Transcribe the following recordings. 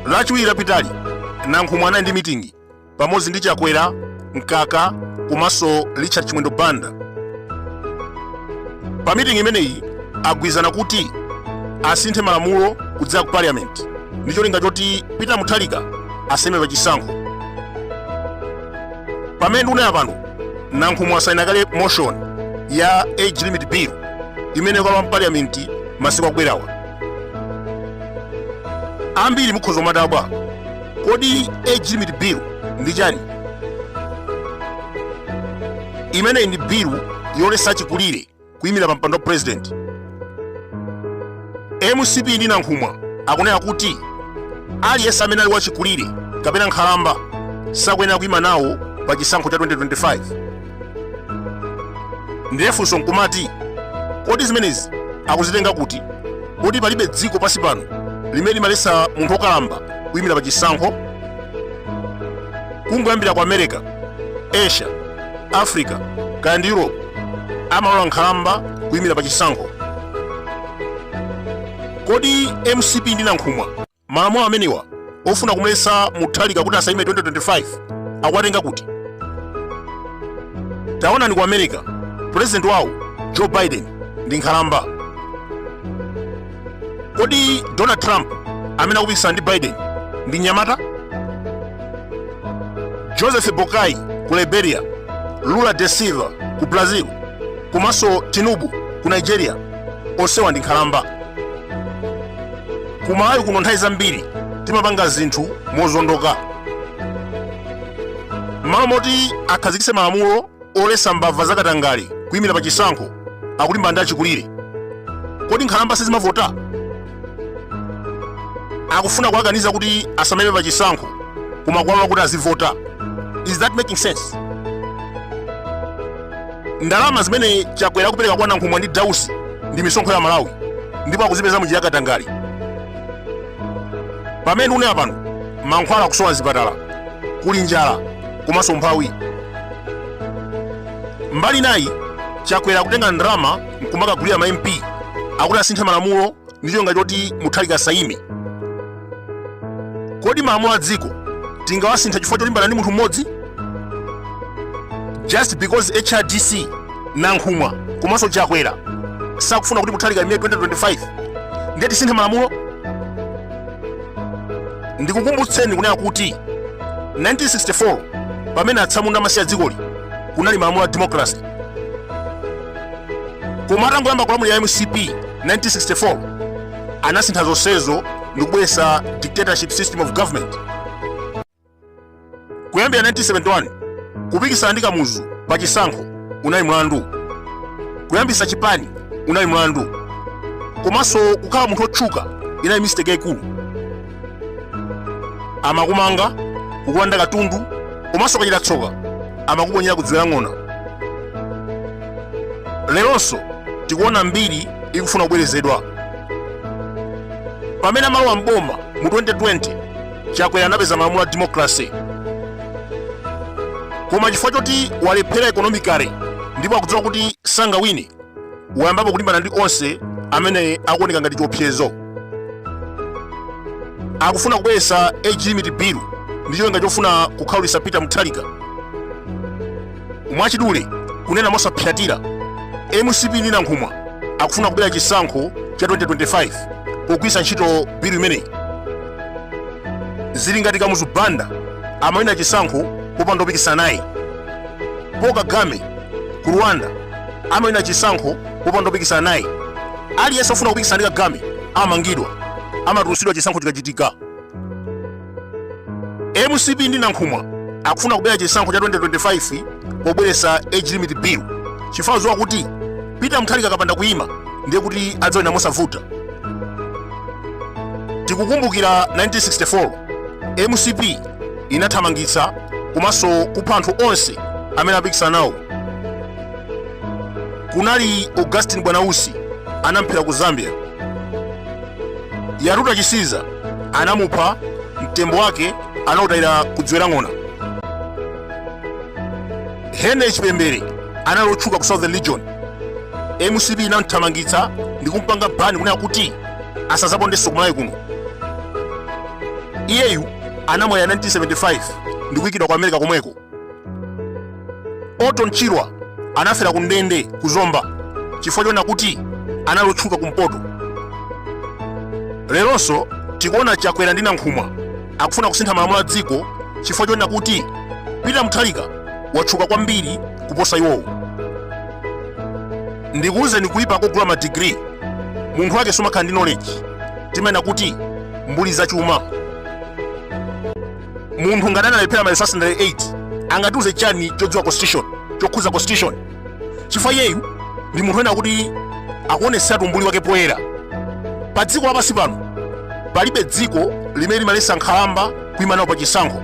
lachiwiri lapitali nankhumwa anali ndi mitingi pamodzi ndi chakwera mkaka komanso richard chimwendo banda pa mitingi imeneyi agwirizana kuti asinthe malamulo kudzera ku parliament ndi cholinga choti peter mutharika asaime pachisankho pamene ndikunena pano nankhumwa asayina kale motion ya age limit bill imene ikalowa mpaliyamenti masiku akubwerawa ambiri mukhoza kumadabwa kodi age limit bill ndi chani imeneyi ndi bill yoletsa chikulire kuyimira pa mpando wa president mcp ndi nankhumwa akunena kuti aliyense amene ali wachikulire kapena nkhalamba sakuyenera kuyima nawo pa chisankho cha 2025 ndiye funso nkumati kodi zimenezi akuzitenga kuti poti palibe dziko pansi pano limene limaletsa munthu wokalamba kuyimira pa chisankho kungoyambira ku america asia africa kaya ndi europe amalola nkhalamba kuyimira pa chisankho kodi mcp ndi nankhumwa malamulo amenewa ofuna kumuletsa mutharika kuti asayime 2025 akuwatenga kuti taonani ku america pulezidenti wawo joe biden ndi nkhalamba kodi donald trump amene akupikisana ndi biden ndi nyamata joseph boakai ku liberia lula da silva ku brazil komanso tinubu ku nigeria onsewa ndi nkhalamba ku malawi kuno nthawi zambiri timapanga zinthu mozondoka mmalo moti akhazikitse malamulo Oletsa mbava za katangale kuimira pa chisankho akulimbana ndi achikulire. Kodi nkhalamba sizimavota? Akufuna kuwakaniza kuti asamaime pa chisankho koma kuwalola kuti azivota. Is that making sense? Ndalama zimene Chakwera akupereka kwa Nankhumwa ndi Dausi ndi misonkho ya Amalawi ndipo akuzipeza mu njira ya katangale. pamene ndikunena pano mankhwala akusowa mzipatala kuli njala komanso umphawi mbali inayi chakwera akutenga ndalama nkumakagulira ma mp kuti asinthe malamulo ndi cholinga choti mutharika asaime kodi malamulo a dziko tingamasintha chifukwa cholimbana ndi munthu mmodzi just because hrdc nankhumwa komanso chakwera sakufuna kuti muthalika aime 2025 ndiye tisinthe malamulo ndikukumbutseni kunena kuti 1964 pamene atsamunda amasiya dzikoli kunali malamulo a democracy koma atangoyamba kulamulira mcp 1964 anasintha zonsezo ndikubweretsa dictatorship system of government kuyambira 1971 kupikisana ndi kamuzu pa chisankho unali mlandu kuyambisa chipani unali mlandu komanso kukhala munthu otchuka inali mistake yaikulu amakumanga kukulanda katundu komanso ukachita tsoka amakuponyera ku dziwe la ng'ona leronso tikuona mbiri ikufuna kubwerezedwa pamene amalowa mboma mu 2020 chakwera anapeza malamulo a democracy koma chifukwa choti walephera economically ndipo akudziwa kuti sangawine wayambapo kulimbana ndi onse amene akuoneka ngati chiopsezo akufuna kubweretsa age limit bill ndi cholinga chofuna kukhaulitsa peter mutharika Mwachidule, kunena mosapsyatira, mcp ndi Nankhumwa akufuna kubera chisankho cha 2025 pogwiritsa ntchito bilu imeneyi. Zili ngati Kamuzu Banda amawina chisankho popanda opikisana naye. Paul Kagame ku Rwanda amawina chisankho popanda opikisana naye. Aliyense ofuna kupikisana ndi Kagame amangidwa, amatulutsidwa chisankho chikachitika. mcp ndi nankhumwa akufuna kubera chisankho cha 2025 pobweretsa age limit bill chifukwa adziwa kuti peter muthalika akapanda kuyima ndiye kuti adzawina mosavuta tikukumbukira 1964 mcp inathamangitsa komanso kupha anthu onse amene apikisana nawo kunali augustin bwanausi anamphera ku zambia yatuta chisiza anamupha mtembo wake anautayira ku dziwe la ng'ona henry chipembere anali otchuka ku southern region mcp inamthamangitsa ndi kumpanga bani kunena kuti asazapondenso kumalawi kuno iyeyu anamwalira 1975 ndi kuyikidwa ku america komweko Orton Chirwa anafera ku ndende ku Zomba chifukwa chonena kuti anali otchuka kumpoto. Leronso tikuona Chakwera ndi Nankhumwa akufuna kusintha malamulo a dziko chifukwa chonena kuti Peter Mutharika watchuka kwambiri kuposa iwowo. Ndikuwuzeni kuyipa kogula madigiri munthu wake sumakhala ndi knowledge timanena kuti mbuli zachuma. munthu ngati analephera ma resit 8 angatiuze chani chodziwa constitution chokhuza constitution chifukwa iyeyu ndi munthu wina woti akuoneseratu umbuli wake poyera pa dziko lapansi pano palibe dziko limene limalesa nkhalamba kuima nawo pa chisankho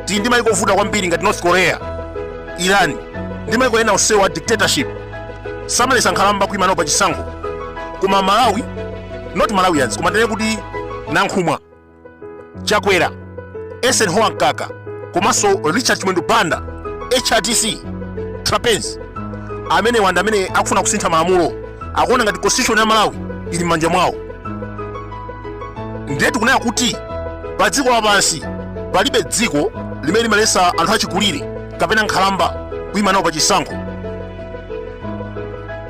tili ndi maiko ovuta kwambiri ngati north korea iran ndi maiko ena onsewo a dictatorship samalesa nkhalamba kuima nawo pa chisankho koma malawi not malawians koma tinene kuti nankhumwa chakwera eisenhower mkaka komanso richard chimwendo banda hrdc trapence namiwa anthu amene akufuna kusintha malamulo akuona ngati constitution ya malawi ili m'manja mwawo ndiye tikunena kuti pa dziko lapansi palibe dziko limene limalesa anthu achikulire kapena nkhalamba kuyima nawo pa chisankho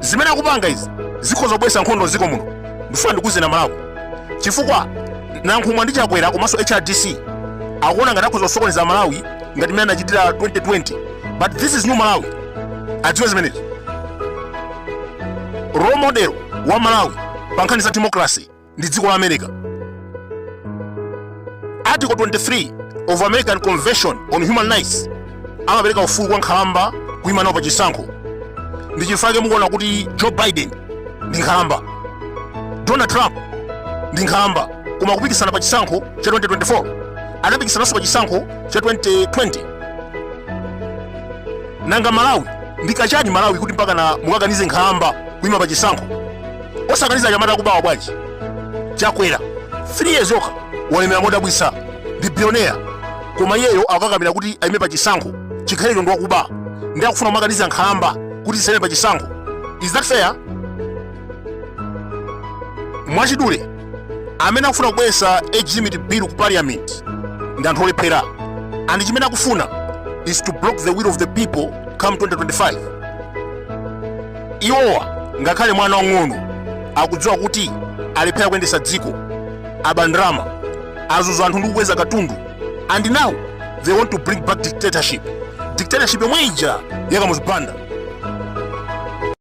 zimene akupanga izi zikhoza kubweretsa nkhondo mdziko muno ndifuna ndikuuzeni a malawi chifukwa nankhumwa ndi chakwera komanso hrdc akuona ngati akhoza kusokoneza malawi ngati mmene anachitira 2020 but this is new malawi adziwe zimenezi role model wa malawi pa nkhani za democracy ndi dziko la america article 23 of american convention on human rights amapereka ufulu kwa nkhalamba kuima nawo pa chisankho ndi chifukwa chake mukuona kuti joe biden ndi nkhalamba donald trump ndi nkhalamba koma kupikisana pa chisankho cha 2024 anapikisananso pa chisankho cha 2020 nanga malawi ndi kachani malawi kuti mpakana mukakanize nkhalamba kuima pa chisankho osakaniza achinyamata akubawa bwanji chakwera 3 years yokha walemera modabwisa ndi billionaire koma iyeyo akukakamira kuti aime pa chisankho chikhalirecho ndi wakuba ndi akufuna kumakaniza nkhalamba kuti zisaime pa chisankho is that fair mwachidule amene akufuna kubweresa age limit bill ku parliament ndi anthu olephera and chimene akufuna is to block the will of the people come 2025 iwowa ngakhale mwana wang'ono akudziwa kuti alephera kuyendesa dziko aba ndalama azuza anthu ndi kukweza katundu and now they want to bring back dictatorship dictatorship yomwe ija ya kamuzu banda